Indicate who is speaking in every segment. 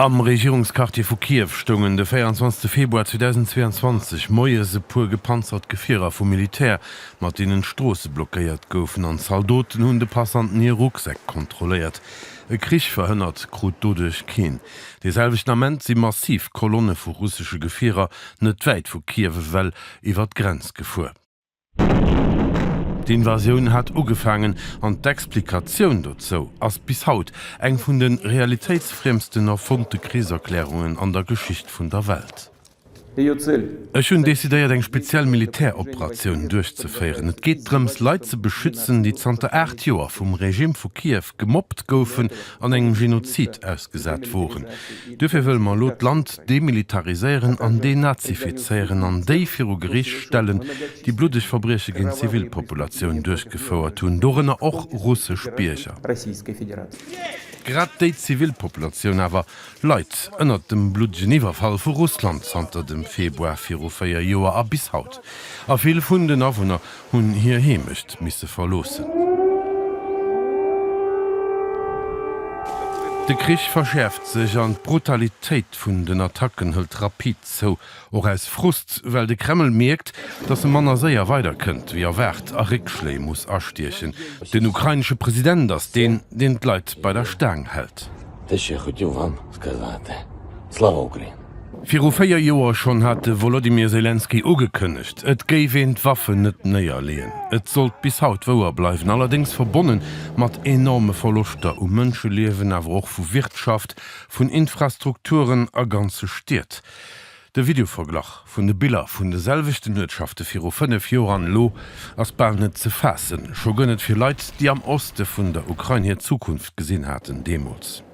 Speaker 1: Am Regierungsquartier vu Kiew stoungen de 24 Februar 2022 moies e puer gepanzert Gefierer vum Militär, mat deenen d'Stroosse blockéiert goufen, an Zaldoten hunn de Passanten hir Rucksäck kontrolléiert. E Krich verhënnert krut doduerch keen. Dee selwechten Ament si massiv Kolonne vu russesche Gefierer net wäit vu Kiew ewell iwwer d'Grenz gefuer. D'Invasioun hat ugefaangen an d'Explikatioun dozou ass bis haut eng vun de realitéitsfriemsten erfonnte Krichserklärungen an der Geschicht vun der Welt. Ech hunn decidéiert eng speziell Militäroperatioun duerchzeféieren. Et geet drëms Leit ze beschützen, déi zanter 8 Joer vum Regime vu Kiew gemobbt goufen an engem Genozid ausgesat woren. Duerfir wëlle mer elo d'Land demilitariséieren an denazifizéieren an déi viru Gericht stellen, déi bluddeg Verbrieche géint d'Zivilpopulatioun duerchgefouert hunn, dorënner och russesch Bierger. Grad déi Zivilpopulatioun awer leit ënnert dem bluddegen Iwwerfall vu Russland zanter dem Februar viru véier Joer a bis haut. A vill vun den Awunner hunn hir Heemecht misse verloossen. De Krich verschäerft sech an d'Brutalitéit vun den Attacken hëlt rapid zou. Och aus Frust, well de Kreml mierkt, datt e manner séier weider kënnt wéi erwaart a Réckschléi muss astiechen. Den ukrainesche President ass deen, deen d'Leit bei der Staang hält. Viru véier Joer schonn hat de Wolodymyr Selenskyj ugekënnegt, et géif een d'Waffen net néierleeën. Et sollt bis haut wouer bleiwen, allerdéngs verbonne mat enorme Verloschter u Mënscheliewen, awer och vu Wirtschaft, vun Infrastrukturen a ganze Stied. De Videoverglach vun de Biller vun de selwechten Uertschafte viru fënnef Joer an elo ass bal net ze faassen. Scho gënn et fir Leit, déi am Oste vun der Ukrain hir Zukunft gesinn haten deemools.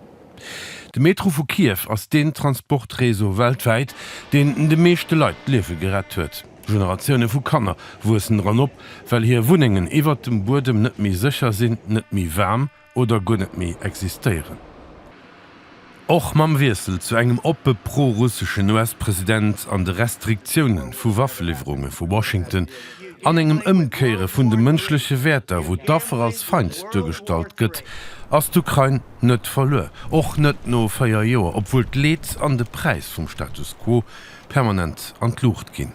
Speaker 1: De Metro vu Kiew ass deen Transportreseau weltwäit, deen de meeschte Leit d'Liewe gerett huet. Generatioune vu Kanner wuessen dran op, well hir Wunnengen iwwert dem Buedem net méi sécher sinn, net méi waarm oder guer net méi existéieren. Och mam Wiessel zu engem oppe pro-russeschen US-President an de Restriktioune vu Waffeliwwerunge vu Washington an engem Ëmkéiere vun de mënschleche Wäerter, wou d'Affer als Feind duergestallt gëtt, ass d'Ukrain, net verluer, och net no véier Joer, obwuel d'Leed an de Präis vum Status quo permanent an d'Luucht ginn.